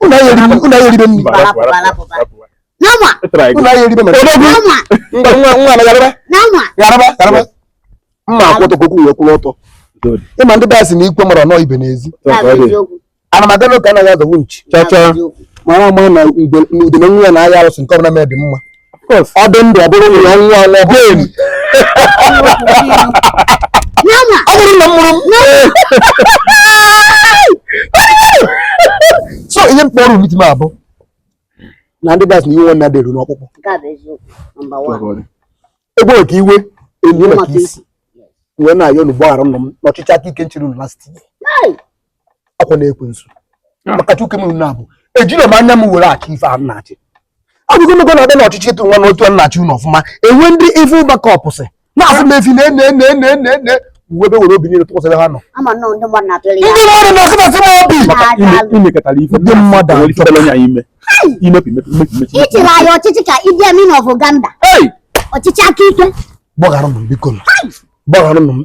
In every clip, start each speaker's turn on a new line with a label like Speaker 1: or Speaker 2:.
Speaker 1: Unu anyị eribe
Speaker 2: unu anyị eribe nri.
Speaker 1: Nama. Unu
Speaker 2: anyị eribe mere. Nama. Nwa nwa nwa na yaraba. Nama. Yaraba
Speaker 1: yaraba.
Speaker 2: Mma akwụ ọtọ ka okwu ya kwụrụ ọtọ. Ị ma ndị daasị na ikwe mara nọọ ibe n'ezi. Ana m aga n'oge anaghị azọgbu nchi. Cha cha. Mara ama na udene nwa ya na ahịa arụsị nke ọbụla mee dị mma. ọ dị ndụ ọ bụrụ nwunye ọ nwụọ ọ bụrụ
Speaker 1: enyi ọ bụrụ na mụrụ
Speaker 2: so ihe m kpọrọ meeting a bụ na ndị ga-asị na iwe nwanne adị eru
Speaker 1: n'ọkpụkpụ e gbuo maka
Speaker 2: iwe e nie maka isi wee na-ayọ unu gbaghara nụ m n'ọchịchị aka ike m chịrị unu last year ọkwanụ ekwensu ah. maka tuke m na abụ ejirọ m anya m were achị ife a na-achị abụgologo na-abịa na ọchịchị ịtụ nwa n'otu a na-achị unu ọfụma e nwe ndị evil backup sị na-asị m efi na-ene ene ene ene ene uwe ebe were obi niile tụkwasịrị ha nọ
Speaker 1: ndị
Speaker 3: mmadụ na-asịmasị m obi ndị mmadụ ị
Speaker 2: chịrị
Speaker 1: anyị ọchịchị ka Idi Amin of Uganda ọchịchị aka ike gbagharanụ m biko
Speaker 2: gbagharanụ m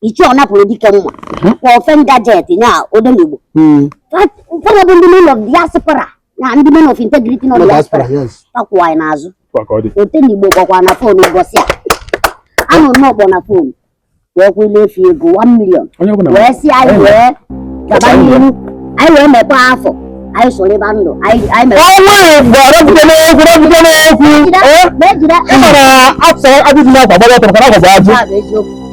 Speaker 1: ichie ọ napụrụ dike mma ma ofe ngajet nya odenigbo ụfọdụ bụ ndị men of diaspora na ndị men of integrity nọ diaspora takwụwa anyị n'azụ odenigbo kpọkwa na fon ụbọchị a anụ n'ọkpọ na fon wee kwụla efi ego 1 million wee sị anyị were gaba n'ihu anyị wee mepe afọ anyị soro ịba ndụ anyị mere ọnwa igbo arọpụta n'okwu rọpụta n'okwu ị mara afọ abụghị na-agba gbara ọtọrọ ka na-agwa ajụ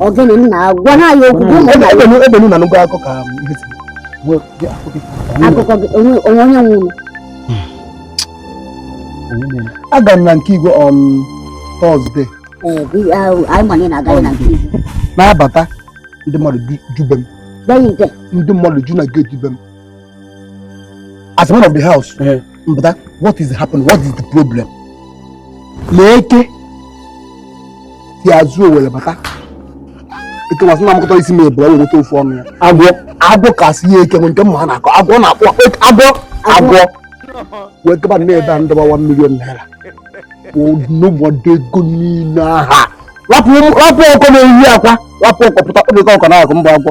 Speaker 1: ogene na-agwa ha ya okwu ebe na
Speaker 2: nụgo akụkọ ka ihe si
Speaker 1: akụkọ gị onwe
Speaker 2: onye nwụrụ aga m na nke igwe on
Speaker 1: Thursday na-abata
Speaker 2: ndị mmadụ ju be m ndị
Speaker 1: mmadụ ju na
Speaker 2: gate be m as man of the house eh. m bata what is happening what is the problem na eke si azụ were bata eke masị na amụkọta isi m ebere were nweta ofu ọnụ ya agwọ agwọ kasị ya eke nke mma ha na-akọ agwọ na-akpọ agwọ agwọ wee gaba na ebe m dọba 1 million naira noda ego niile ahụ rapụ ọkụkọ na-eyi akwa rapụ ọkụkọ pụta kpọbịta ọkụkọ na-akụ mba agwọ